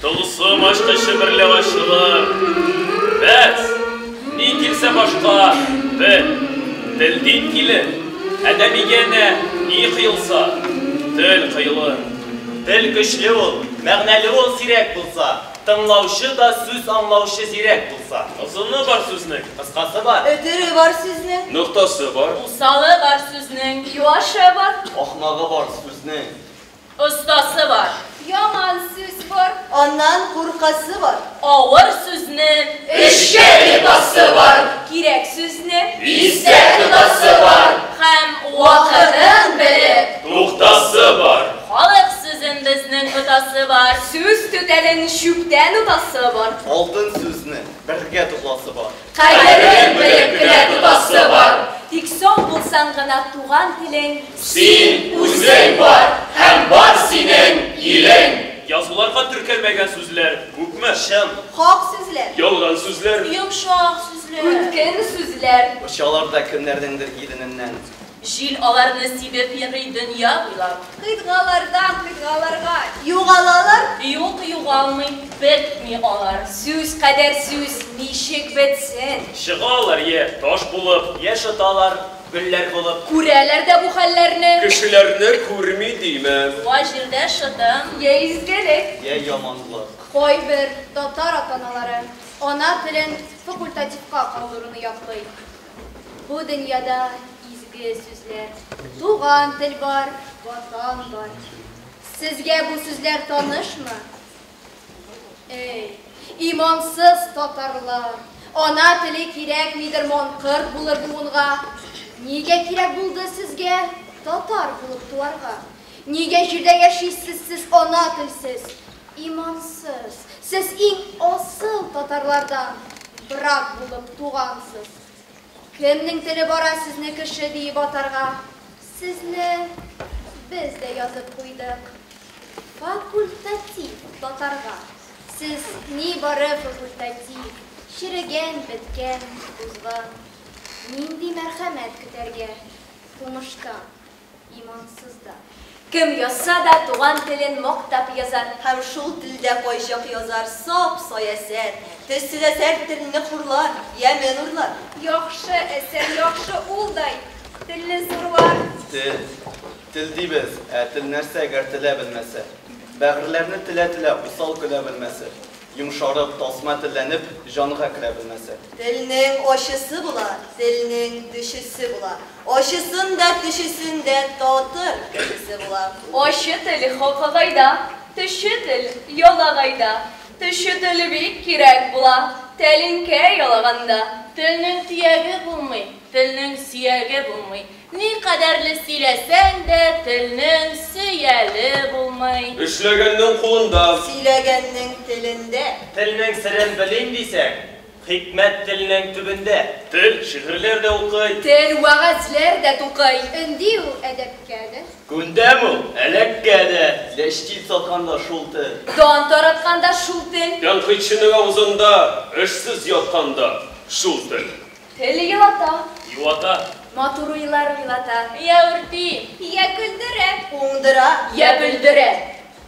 Тылсым ачкычы берлә ачылыр. Бәс, ни килсә башка, бел. Тел дин килер. Адәмигә әнә ни кыелса, тел кыелыр. Тел көчле ул, мәгънәле ул сирәк булса, тыңлаучы да сүз аңлаучы зирәк булса. Озыны бар сүзнең, кыскасы бар. Өтере бар сүзнең. Ноктасы бар. Усалы бар сүзнең, юашы бар. Ахмагы бар сүзнең. Остасы бар. Яман сүз бар. Аннан куркасы бар. Авыр сүзне. Эшкә йотасы бар. Кирәк сүзне. Истә тотасы бар. Һәм вакытын белеп. Туктасы бар. Халык сүзен безнең отасы бар. Сүз түтәлен чүптән отасы бар. Алтын сүзне бергә тупласы бар. Кадерен белеп кенә тотасы бар. Тик соң булсаң гына туган телең. Син, үзең бар һәм бар синең илең. Язуларга теркәлмәгән сүзләр күпме? Чын. Хак сүзләр. Ялган сүзләр. Йомшак сүзләр. Үткен сүзләр. Очалар да кемнәрнеңдер илененнән. Җил аларны сибеп йөри дөнья буйлап. Кыйтгалардан кыйтгаларга югалалар. Юк, югалмый, бетми алар. Сүз кадәр сүз ничек бетсен? Чыгалар йә таш булып. Йә шыталар гөлләр булып. Күрәләр дә бу хәлләрне. Кешеләрне күрми димә. Туа җирдә шытым. Йә изгелек. Йә яманлык. Кайбер татар ата-аналары ана телен факультативка калдыруны яклый. Бу дөньяда изге сүзләр. Туган тел бар, Ватан бар. Сезгә бу сүзләр танышмы? Эй, имансыз татарлар, ана теле кирәкмидер манкырт булыр буынга. Нигә кирәк булды сезгә татар булып туарга? Нигә җирдә яшисез сез ана телсез? Имансыз, сез иң асыл татарлардан брак булып тугансыз. Кемнең теле бара сезне кеше диеп атарга? Сезне без дә язып куйдык. Факультатив татарга. Сез нибары факультатив, черегән, беткән, узган. Нинди мәрхәмәт көтәргә тумыштан? имансыз да. Кем язса да туган телен мактап язар һәм шул телдә кайчак язар, саф саясәт, төсле дә сәр телне хурлар, ямен урлар. Яхшы әсәр, яхшы ул дай, телне зурлар. Тел, тел дибез, ә тел нәрсә гәр телә белмәсә? Бәгырьләрне телә-телә усал көлә белмәсә? Йомшарып, тасма телләнеп, җанга керә белмәсә? Телнең ачысы була, телнең төчесе була, Ачысын да, төчесен дә татыр кешесе була. Ачы тел хакагайда, төче тел ялагайда. Төче тел бик кирәк була тәлинкә ялаганда. Телнең төяге булмый, телнең сөяге булмый. Никадәрле сөйләсәң дә, телнең сөяле булмый. Эшләгәннең кулында. Сөйләгәннең телендә. Телнең серен белим дисәң, Хикмәт теленең төбендә. Тел шигырьләр дә укый. Тел вәгазьләр дә тукый. Өнди ул әдәпкә дә. Күндәм ул әләккә дә. Ләчтил сатканда шул тел. Дан таратканда шул тел. Тәнкыйтьченең авызында. Эшсез ятканда шул тел. Тел елата. Юата. Матур уйлар уйлата. Йә үрти. Йә көлдерә. Уңдыра. Йә бөлдерә.